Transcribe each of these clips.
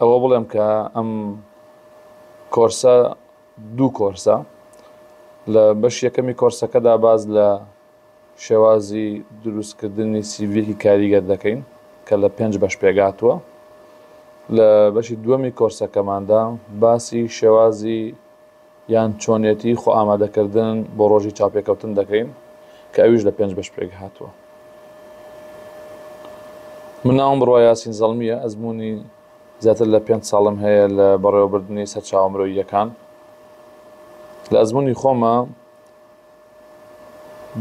ئەوە بڵێم کە ئەم کۆرسە دوو کۆرسە لە بەش یەکەمی کۆرسەکەدا باز لە شێوازی دروستکردنی سیڤیەکی کاریگەر دەکەین کە لە پێنج بەش پێگاتووە لە بەشی دووەمی کۆرسەکەماندا باسی شێوازی یان چۆنیەتی خۆ ئامادەکردن بۆ ڕۆژی چاوپێکەوتن دەکەین کە ئەویش لە پێنج بەش پێک هاتووە. من ناوم بڕوا یاسین زەڵمییە، ئەزموونی زیاتر لە پێنج ساڵم هەیە لە بەڕێوەبردنی سەرچاوە مرۆییەکان. لە ئەزموونی خۆما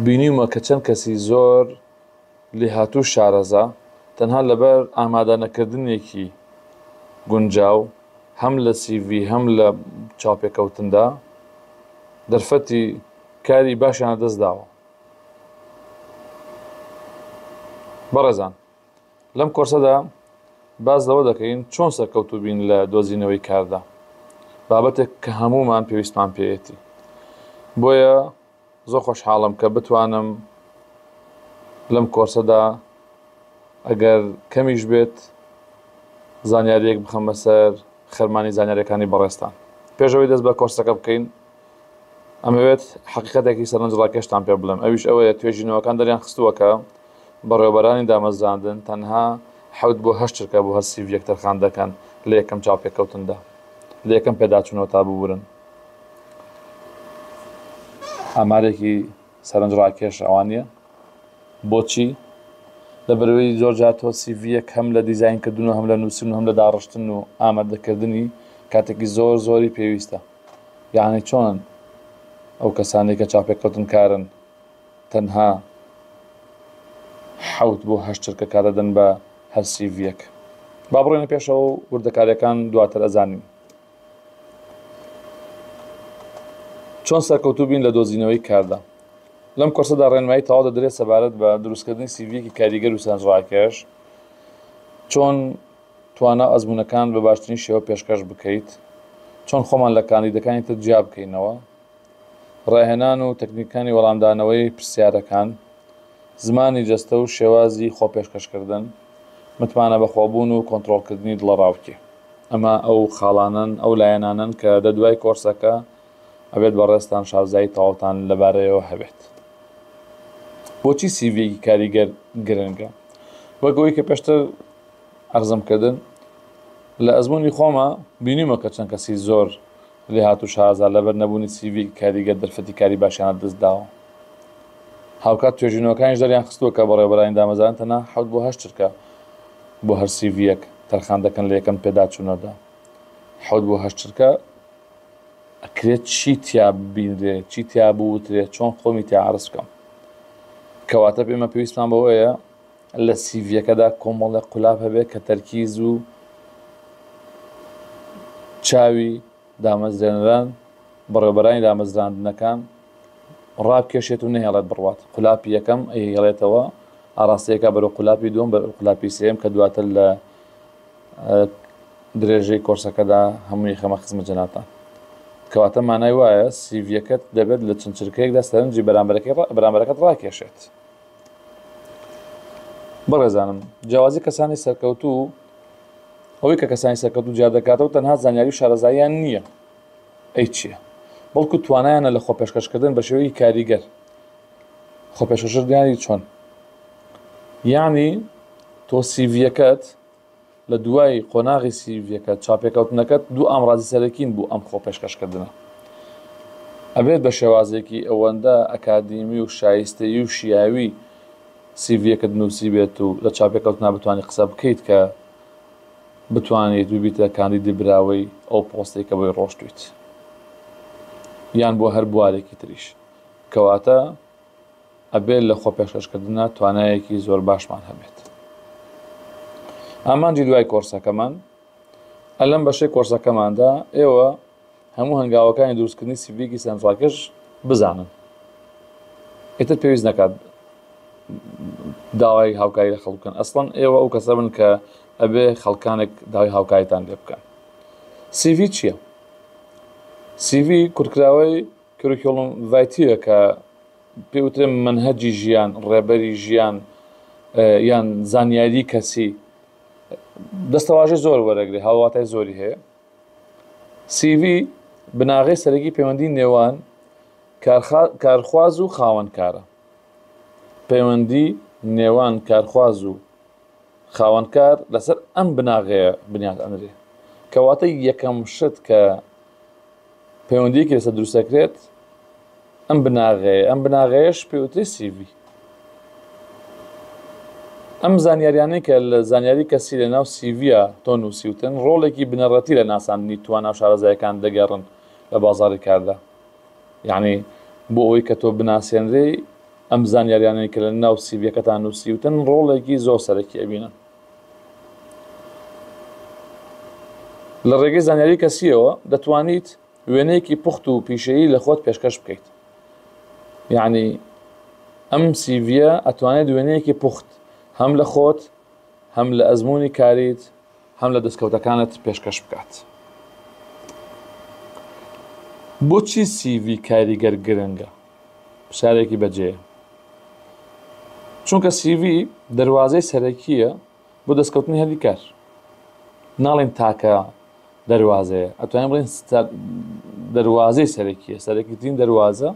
بینیومە کە چەند کەسی زۆر، لێهاتوو شارەزا، تەنها لەبەر ئامادەنەکردنێکی گونجاو هەم لە سی ڤی هەم لە چاوپێکەوتندا، دەرفەتی کاری باشیان لەدەست داوە. بەڕێزان لەم کۆرسەدا باس لەوە دەکەین چۆن سەرکەوتوو بین لە دۆزینەوەی کاردا، بابەتێک کە هەموومان پێویستمان پێیەتی. بۆیە. زۆر خۆشحاڵم کە بتوانم لەم کۆرسەدا ئەگەر کەمیش بێت زانیارییەک بخەمە سەر خەرمانی زانیاریەکانی بەڕێزتان. پێش ئەوەی دەست بە کۆرسەکە بکەین ئەمەوێت حەقیقەتێکی سەرنجڕاکێشتان پێ بڵێم ئەویش ئەوەیە توێژینەوەکان دەریان خستووە کە بەڕێوەبەرانی دامەزراندن تەنها حەوت بۆ هەشت چرکە بۆ هەر سیڤیەک تەرخان دەکەن لە یەکەم چاوپێکەوتندا لە یەکەم پێداچوونەوە تا ببورن ئامارێکی سەرنجڕاکێش ئەوە نییە بۆچی لەبەرەوەی زۆرجار تۆ سیڤیەک هەم لە دیزینکردن و هەم لە نووسن و هەم لە داڕشتن و ئامادەکردنی کاتێکی زۆر زۆری پێویستە یاعنی چۆن ئەو کەسانی کە چاپێککەوتن کارن تەنها حوت بۆ هەشترکە کارەدەن بە هەر سیڤیەک با بڕێنە پێشەوە و وردەکاریەکان دواتر ئەزانین چۆن سەرکەوتوو بین لە دۆزینەوەی کاردا لەم کۆرسەدا ڕێنمایی تەواو دەدرێت سەبارەت بە دروستکردنی سیڤیەکی کاریگەر و سەرنجڕاکێش چۆن توانا و ئەزمونونەکان بە باشترین شێوە پێشکەش بکەیت چۆن خۆمان لە کاندیدەکانی تر جیا بکەینەوە ڕاهێنان و تەکنیکانی وەڵامدانەوەی پرسیارەکان، زمانی جەستە و شێوازی خۆپێشکەشکردن، متمانە بەخۆبوون و کۆنترۆڵکردنی دڵەڕاوکێ. ئەمە ئەو خاڵانەن، ئەو لایەنانەن کە دە دوای کۆرسەکە ئەبێت بەڕێزتان شازایی تەواوتان لەبارەیەوە هەبێت. بۆچی سیڤییەکی کاریگەر گرنگە؟ وەک ئەوەی کە پێشتر عەرزم کردن، لە ئەزموونی خۆما بینیومە کە چەند کەسی زۆر لێهاتوو شارەزا لەبەر نەبوونی سیڤیل کاریگەر دەرفەتی کاری باشیان لە دەست داوە. هاوکات توێژینەوەکانیش دەریان خستووە کە بەڕێوەبەرانی دامەزراندن تەنها حەوت بۆ هەشت چرکە بۆ هەر سیڤییەک تەرخان دەکەن لە یەکەم پێداچوونەدا. حەوت بۆ هەشت چرکە ئەکرێت چی تیا ببینرێ، چی تیا بوترێ، چۆن خۆمی تیا عەرز بکەم؟ کەواتە ئێمە پێویستمان بەوەیە لە سیڤیەکەدا کۆمەڵێک قولاب هەبێت کە تەرکیز و چاوی دامەزرێنەران، بەڕێوەبەرانی دامەزراندنەکان، ڕابکێشێت و نەهێڵێت بڕوات. قولاپی یەکەم ئەیهێڵێتەوە، ئاڕاستەی ئەکات بەرەو قولاپی دووەم، بەرەو قولاپی سێیەم کە دواتر لە درێژەی کۆرسەکەدا هەمووی ئەخەمە خزمەت جەنابتان. کەواتە مانای وایە سیڤیەکەت دەبێت لە چەند چرکەیەکدا سەرنجی بەرامبەرەکەی بەرامبەرەکەت ڕاکێشێت. بەڕێزانم جیاوازی کەسانی سەرکەوتوو ئەوەی کە کەسانی سەرکەوتوو جیا دەکاتەوە تەنها زانیاری و شارەزاییان نییە ئەی چییە بەڵکو توانایانە لە خۆپێشکەشکردن بە شێوەیەکی کاریگەر خۆپێشکردنیانی چۆن یعنی تۆ سیڤیەکەت لە دوای قۆناغی سیڤیەکە چاپێکەوتنەکەت دوو ئامڕازی سەرەکین بو ئەم خۆپێشکەشکردنە ئەبێت بە شێوازێکی ئەوەندە ئەکادیمی و شایستەیی و شیاوی سیڤیەکەت نوسیبێت و لە چاپێکەوتنا بتوانی قسە بکەیت کە بتوانیت ببیتە کاندیدی براوەی ئەو پۆستەی کە بۆی ڕۆشتویت یان بۆ هەر بوارێکی تریش کەواتە ئەبێت لە خۆپێشکەشکردنا توانایەکی زۆر باشمان هەبێت. ئامانجی دوای کۆرسەکەمان، ە لەم بەشەی کۆرسەکەماندا ئێوە هەموو هەنگاوەکانی دروستکردنی سیڤییەکی سەرنجڕاکێش بزانن. ئیتر پێویست نەکات داوای هاوکاری لە خەڵک بکەن. ئەسڵەن ئێوە ئەو کەسە بن کە ئەبێ خەڵکانێک داوای هاوکاریتان لێ بکەن. سیڤی چییە؟ سیڤی کورتکراوەی کریکولم ڤایتیە کە پێی وترێ مەنهەجی ژیان، ڕێبەری ژیان یان زانیاری کەسی دەستەواژەی زۆر وەرەگرێ هاوواتای زۆری هەیە. CV بناغەی سەرەکی پەیوەندی نێوان کارخواز و خاوەنکارە. پەیوەندی نێوان کارخواز و خاوەنکار لەسەر ئەم بناغەیە بنیات ئەنرێ. کەواتە یەکەم شت کە پەیوەندیەکی لەسەر دروست دەکرێت ئەم بناغەیە ئەم بناغەیەش پێوتری سیڤی ئەم زانیاریانەی کە لە زانیاری کەسی لە ناو سیڤیا تۆ نووسیوتن ڕۆڵێکی بنەڕەتی لە ناساندنی توانا و شارەزایەکان دەگەڕن لە بازاری کاردا یەعنی بۆ ئەوەی کە تۆ بناسێنرێی ئەم زانیاریانەی کە لە ناو سیڤیەکەتان نووسیوتن ڕۆڵێکی زۆر سەرەکی ئەبینن لە ڕێگەی زانیاری کەسیەوە دەتوانیت وێنەیەکی پوخت و پیشەیی لە خۆت پێشکەش بکەیت یعنی ئەم سیڤە ئەتوانێت وێنەیەکی پوخت هەم لە خۆت هەم لە ئەزمموی کاریت هەم لە دەستکەوتەکانت پێشکەش بکات. بۆچی سی ڤی کاریگەر گرنگە؟ پرسیارێکی بەجێیە. چونکە سی ڤی دەروازەی سەرەکییە بۆ دەستکەوتنی هەلی کار. ناڵین تاکە دەروازەیە، ئەتوانین بڵین دەروازەی سەرەکییە، سەرەکیترین دەروازە،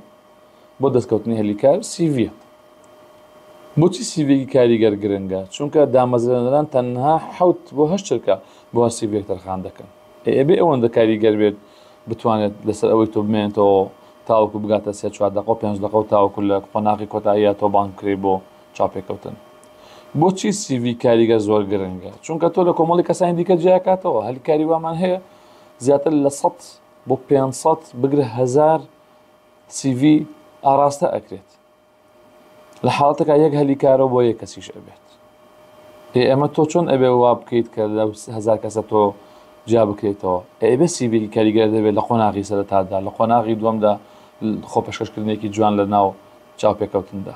بۆ دەستکەوتنی هەلی کار سیڤیە. بۆچی سیڤێکی کاریگەر گرنگە چونکە دامەزرێنەران تەنها حوت بۆ هەش چرکە بۆ هەر سیڤێک تەرخان دەکەن ئێبێ ئەوەندە کاریگەر بێت بتوانێت لەسەر ئەوەی تۆ بمێنێتەوە تاوەکو بگاتە سێ چوار دەقۆ پێنج دەقە و تاوەکو لە قۆناغی کۆتاییە تۆ بانگ کرێ بۆ چاپێکەوتن بۆچی سیڤی کاریگەر زۆر گرنگە چونکە تۆ لە کۆمەڵی کەسانی دیکە جیاکاتەوە هەل کاری وامان هەیە زیاتر لە 100 بۆ 500 بگرە هزار سیڤی ئاڕاستە ئەکرێت لە حاڵەتەکە یەک هەلی کارەوە بۆ یەک کەسیش ئەبێت ئێ ئەمە تۆ چۆن ئەبێ وا بکەیت کە لە هزار کەسە تۆ جیا بکرێتەوە ئەبێ سیڤێکی کاریگەر دەبێت لە قۆناغی سەرتادا لە قۆناغی دووەمدا خۆ پێشکەشکردنێکی جوان لە ناو چاوپێکەوتندا